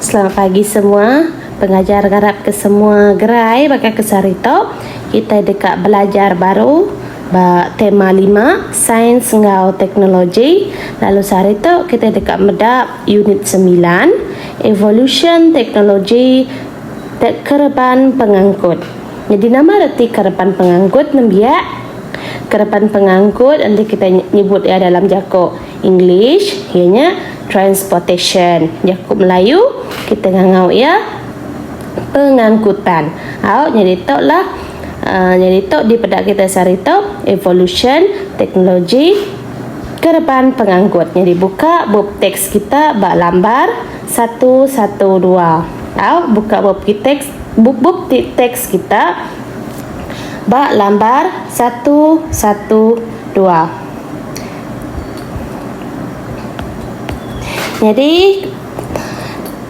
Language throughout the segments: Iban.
Selamat pagi semua. Pengajar ngarap ke semua gerai baka ke sehari tu kitai deka belajar baru ba tema lima, Sains enggau Teknologi. Lalu sehari tu kitai deka meda unit semilan, Evolution Teknologi Kereban Pengangkut. Nyadi nama reti kereban pengangkut nembiak? Kereban pengangkut enti kitai nyebut iya dalam jaku. English, iya nya transportation. Jaku Melayu kita ngangau iya pengangkutan. Au nyadi tu lah uh, nyadi tu di peda kita sehari tu evolution teknologi kereban pengangkut. Nyadi buka bup teks kita ba lambar 112. Au buka bup teks bup bup teks kita ba lambar 112. Nyadi,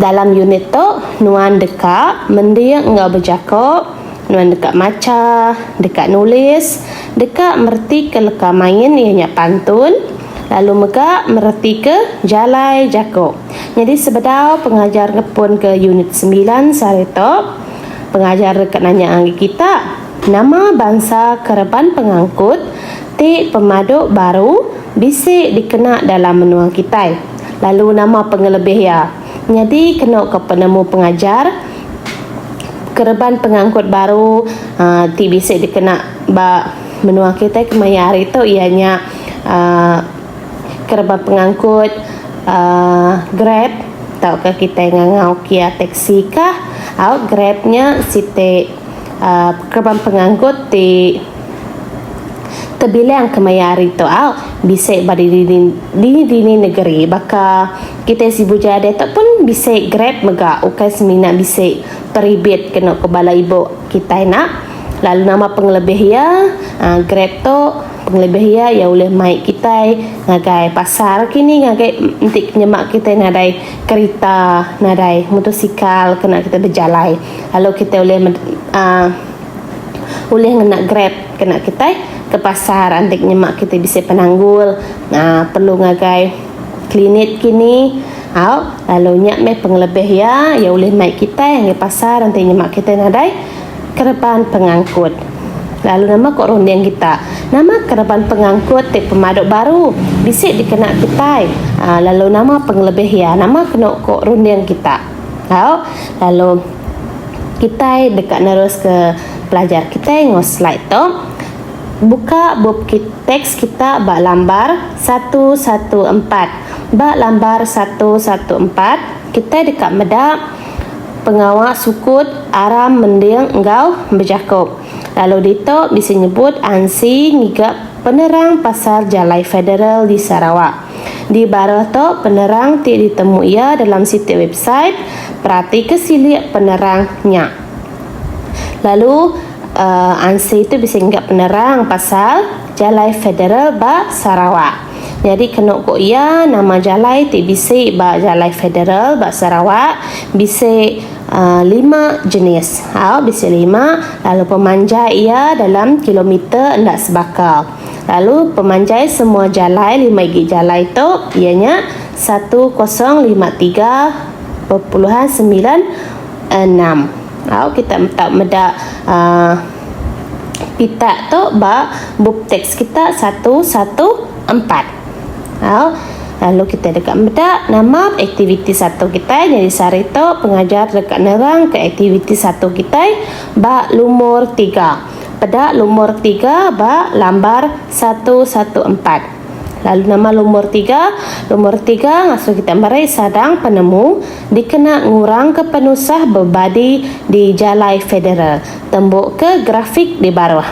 dalam unit tu, nuan deka mending enggau bejako, nuan deka macha, deka nulis, deka meretika leka main iya nya pantun, lalu mega meretika jalai jako. Nyadi sebedau pengajar ngepunka unit semilan sehari tu, pengajar deka nanya ngagai kita. Nama bansa kereban pengangkut ti pemadu baru bisi dikena dalam menua kitai, lalu nama pengelebih iya? Nyadi kenu ke penemu pengajar, kereban pengangkut baru ti bisi dikena ba menua kitai kemaya hari tu iya nya kereban pengangkut Grab tauka kitai ngangau kia taxi kah au Grab nya siti. Kereban pengangkut ti tebilang kemaya hari tu bisi ba dini dini negeri baka kitai sibu jaya diatu pun bisi grab mega ukai semina bisi peribit ke eno ke bala ibu kitai ina lalu nama pengelebih iya grab tu pengelebih iya iya ulih mai kitai ngagai pasar kini ngagai enti nyema kitai nadai kerita nadai motosikal kena kitai bejalai. Lalu kitai ulih uhh ulih ngena grab kena kitai ke pasar andik nyema kitai bisi penanggul uhh perlu ngagai klinik kini au lalu nya meh pengelebih iya iya ulih mai kitai ngi pasar enti nyema kitai nadai kereban pengangkut. Lalu nama ko runding kita nama kereban pengangkut ti pemadu baru bisi dikena kitai uhh lalu nama pengelebih iya nama kenu ko runding kita. Tau, lalu kitai deka neruska pelajar kitai enggau slide tu. Buka bup kit, teks kita ba lambar satu satu empat. Ba lambar satu satu empat, kitai deka meda pengawa sukut aram mending enggau bejaku. Lalu ditu bisi nyebut ansi ngiga penerang pasal jalai federal di Sarawak. Di baruh tu penerang ti ditemu iya dalam siti website, peratika silik penerang nya. Lalu uhh ansyi tu bisi mega penerang pasal jalai federal ba Sarawak. Nyadi kenu ku iya nama jalai ti bisi ba jalai federal ba Sarawak bisi uhh lima jenis au bisi lima lalu pemanjai iya dalam kilometer enda sebaka. Lalu pemanjai semua jalai lima igi jalai tu iya nya satu kosong lima tiga perpuluhan semilan enam. Au kita tau meda uh, pita tu ba bup teks kita satu satu empat. Au lalu kita deka meda nama aktiviti satu kita nyadi sehari tu pengajar deka nerang ke aktiviti satu kita ba lumur tiga. peda lumur tiga ba lambar satu satu empat lalu nama lumur tiga lumur tiga ngasuh kita meri sadang penemu dikena ngurang ke penusah bebadi di jalai federal tembu ke grafik di baruh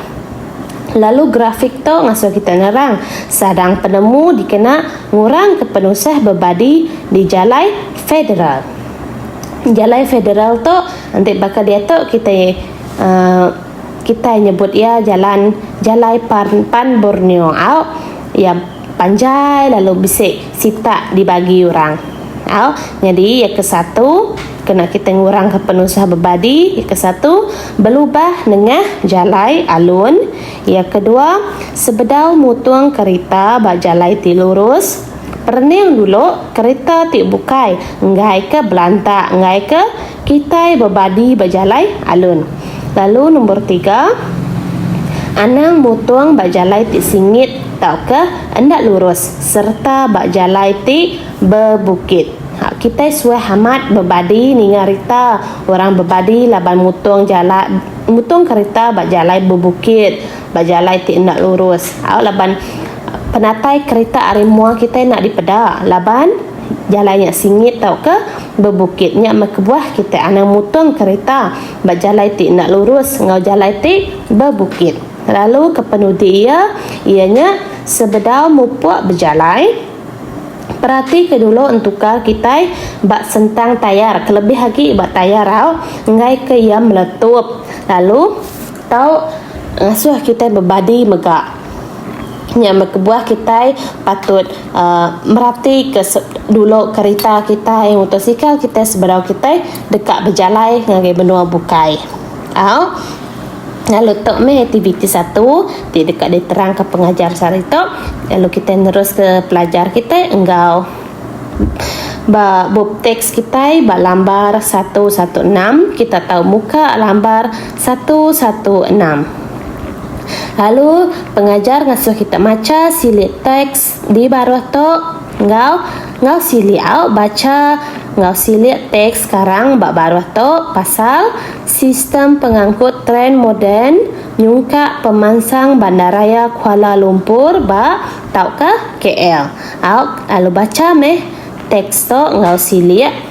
lalu grafik tu ngasuh kita nerang sadang penemu dikena ngurang ke penusah bebadi di jalai federal jalai federal tu enti baka diatu kitai Kitai nyebut iya jalan jalai pan Borneo au iya panjai lalu bisi sitak dibagi orang au nyadi iya ke satu kena kitai ngurangka penusah bebadi iya ke satu belubah nengah jalai alun iya ke dua sebedau mutung kerita ba jalai ti lurus perening dulu kerita ti bukai enggai ke belanta enggai ke. Kitai bebadi ba jalai alun. Lalu nombor tiga, anang mutung ba jalai ti singit tauka enda lurus sereta ba jalai ti bebukit. Hak kitai suah amat bebadi ninga rita orang bebadi laban mutung jala mutung kerita ba jalai bebukit, ba jalai ti enda lurus. Au laban penatai kerita ari mua kitai enda dipeda laban. Jalai nya singit tauka bebukit nya meh kebuah kitai anang mutung kereta ba jalai ti enda lurus enggau jalai ti bebukit. Lalu kepenudi iya iya nya sebedau mupuk bejalai peratika dulu entuka kitai ba sentang tayar kelebih agi ba tayar rau enggaika iya meletup lalu Tau ngasuh kitai bebadi mega nya meh kebuah kitai patut uhh meratika dulu kerita kitai motosikal kitai sebedau kitai deka bejalai ngagai menua bukai. Au lalu tu meh aktiviti satu ti deka diterangka pengajar sehari tu lalu kitai neruska pelajar kitai enggau ba bup teks kitai ba lambar satu satu enam kita tau muka lambar. Satu satu enam. Lalu pengajar ngasuh kita macha silik teks di baruh tu enggau enggau silik au bacha enggau silik teks sekarang ba baruh tu pasal sistem pengangkut tren moden nyungkak pemansang bandaraya Kuala Lumpur ba tauka KL. Au lalu bacha meh teks tu enggau silik.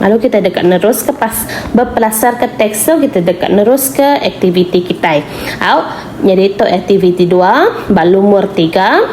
Lalu kitai deka neruska pas bepelasarka teks tu kitai deka neruska aktiviti kitai. Au nyadi tu aktiviti dua ba lumur tiga.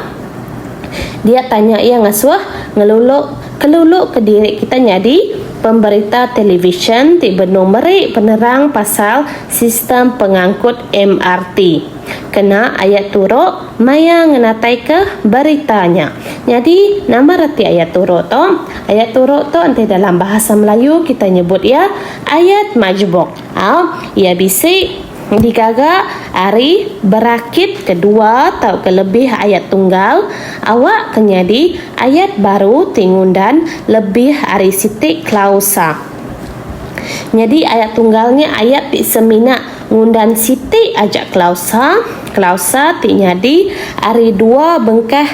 Dia tanya iya ngasuh ngelulu keluluka diri kitai nyadi pemberita televisyen ti benung meri penerang pasal sistem pengangkut MRT. Kena ayat turu. Maya ngenataika berita nya. Nyadi, nama reti ayat turu tu? Ayat turu tu enti dalam bahasa Melayu kitai nyebut iya ayat majbuk. Au, iya bisi digaga ari berakit ke dua tauka lebih ayat tunggal awakka nyadi ayat baru ti ngundan lebih ari siti klausa. Nyadi ayat tunggal nya ayat ti semina Ngundan siti aja klausa, klausa ti nyadi ari dua bengkah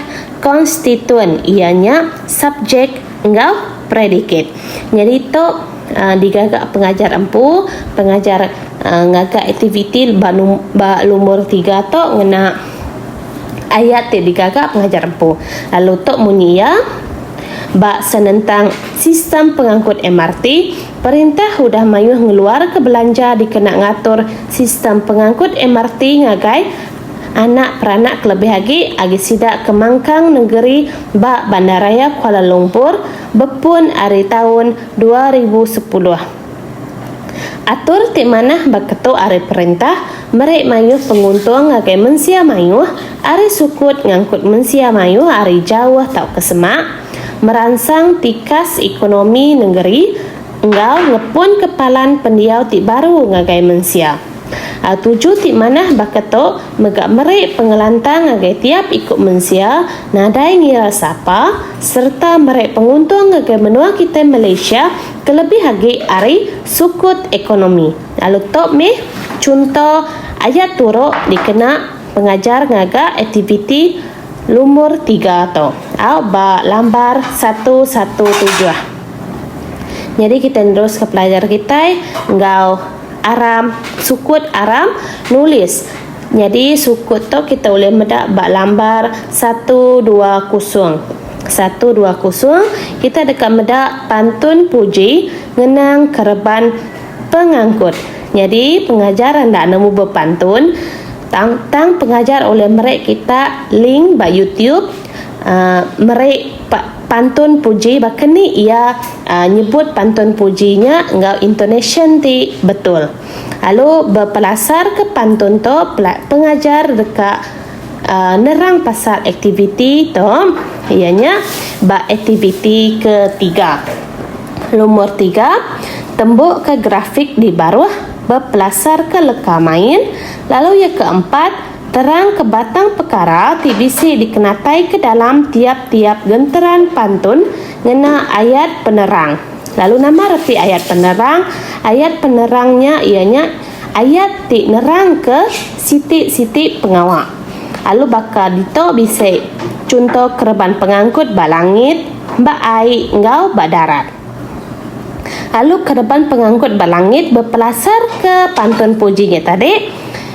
konstituen iya nya subjek enggau predikat. Nyadi tu digaga pengajar empu, pengajar ngaga aktiviti ba lumur tiga tu ngena ayat ti digaga pengajar empu lalu tu munyi iya ba senentang sistem pengangkut MRT. Perintah udah mayuh ngeluarka belanja dikena ngatur sistem pengangkut MRT ngagai anak peranak kelebih agi agi sida ke mangkang nengeri ba Bandaraya Kuala Lumpur bepun ari taun dua ribu sepuluh. Atur ti manah baka tu ari perintah meri mayuh penguntung ngagai mensia mayuh ari sukut ngangkut mensia mayuh ari jauh tauka semak, meransang tikas ekonomi nengeri enggau ngepunka palan pendiau ti baru ngagai mensia. Tuju ti manah baka tu mega meri pengelantang ngagai tiap iku mensia nadai ngira sapa sereta meri penguntung ngagai menua kitai Malaysia kelebih agi ari sukut ekonomi lalu tu mih chunto aya turu dikena pengajar ngaga aktiviti Lumur tiga tu auk ba lambar satu satu tujuh. Nyadi kitai neruska pelajar kitai enggau aram sukut aram nulis. Nyadi sukut tu kitai ulih meda ba lambar satu dua kusung. Satu dua kusung kitai deka meda pantun puji ngenang kereban pengangkut. Nyadi pengajar enda nemu bepantun. Tang tang pengajar ulih meri kita link ba YouTube uhh meri pantun puji baka ni iya uhh nyebut pantun puji nya enggau intonasyen ti betul. Lalu bepelasarka pantun tu pengajar deka uhh nerang pasal aktiviti tu iya nya ba aktiviti ketiga. Lumur tiga, tembuka grafik di baruh. bepelasarka leka main, lalu iya ke empat, terangka batang pekara ti bisi dikenataika dalam tiap-tiap genteran pantun ngena ayat penerang. Lalu nama reti ayat penerang? Ayat penerang nya iya nya ayat ti nerangka siti-siti pengawa. Alu baka ditu bisi chunto kereban pengangkut ba langit, ba ai enggau ba darat. Alu kereban penganggut ba langit bepelasarka pantun puji nya tadi,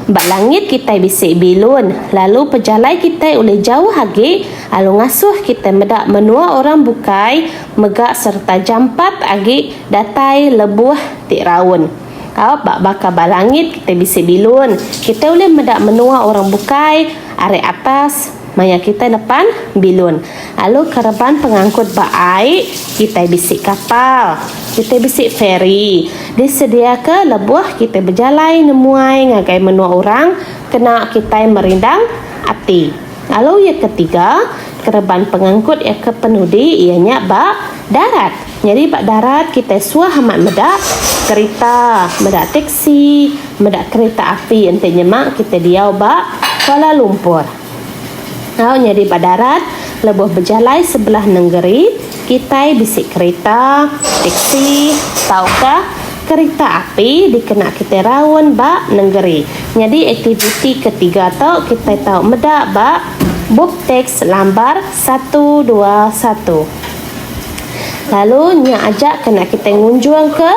Ba langit kitai bisi bilun, lalu pejalai kitai ulih jauh agi alu ngasuh kitai meda menua orang bukai mega sereta jampat agi datai lebuh ti raun. Au ba baka ba langit kitai bisi bilun, kitai ulih meda menua orang bukai ari atas. Maya kitai nepan bilun, alu kereban pengangkut ba ai, kitai bisi kapal. Kitai bisi feri disediaka lebuh kitai bejalai nemuai ngagai menua orang kena kitai merindang ati. Alu iya ketiga kereban pengangkut iya ke penudi iya nya ba darat. Nyadi ba darat kitai suah amat meda kerita, meda teksi, meda kerita api enti nyema kitai diau ba Kuala Lumpur. Tau nyadi ba darat lebuh bejalai sebelah nengeri kitai bisi kerita, teksi tauka kerita api dikena kitai raun ba nengeri. Nyadi aktiviti ke tiga tu kitai tau meda ba Bupteks Lambar satu dua satu. Lalu nya aja kena kitai ngunjungka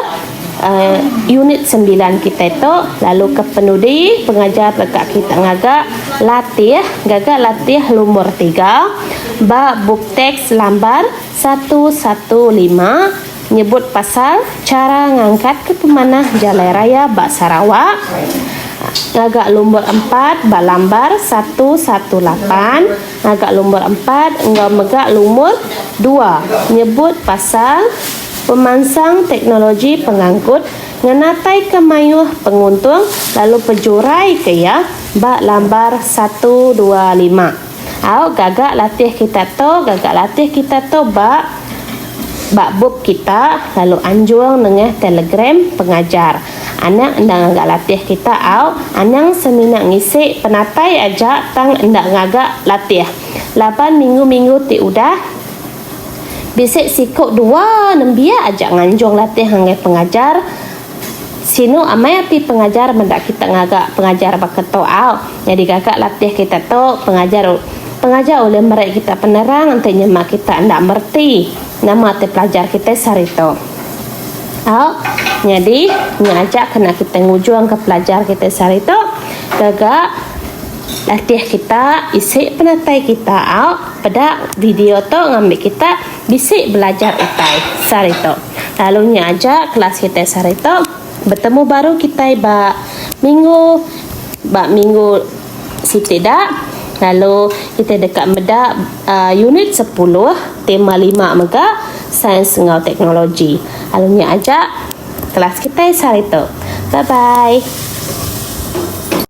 unit sembilan kitai tu lalu ke penudi pengajar deka kita ngaga latih gaga latih lumur tiga ba bup teks lambar satu satu lima nyebut pasal chara ngangkatka pemanah jalai raya ba Sarawak ngaga lumur empat ba lambar satu satu lapan Ngaga lumur empat enggau mega lumur dua nyebut pasal pemansang teknologi pengangkut ngenataika mayuh penguntung lalu pejuraika iya ba lambar satu dua lima. Au gaga latih kita tu gaga latih kita tu ba ba bup kita lalu anjung nengah telegram pengajar. Anak enda ngaga latih kita au anang semina ngisi penatai aja tang enda ngaga latih. Laban minggu-minggu ti udah, bisi siku dua nembiak aja nganjung latih ngagai pengajar. Sinu amai ati pengajar meda kita ngaga pengajar baka tu au. Nyadi gaga latih kita tu pengajar pengajar ulih meri kita penerang enti nyema kita enda mereti nama ti pelajar kitai sehari tu. Au, nyadi nya aja kena kita ngujungka pelajar kita sehari tu gaga latih kita isi penatai kita au peda video tu ngambi kita bisi belajar utai sehari tu. Lalu nya aja kelas kita sehari tu betemu baru kitai ba minggu ba minggu Siti da, lalu kitai deka meda unit sepuluh tema lima mega sains enggau teknologi. Lalu nya aja kelas kitai sehari tu. Bye bye.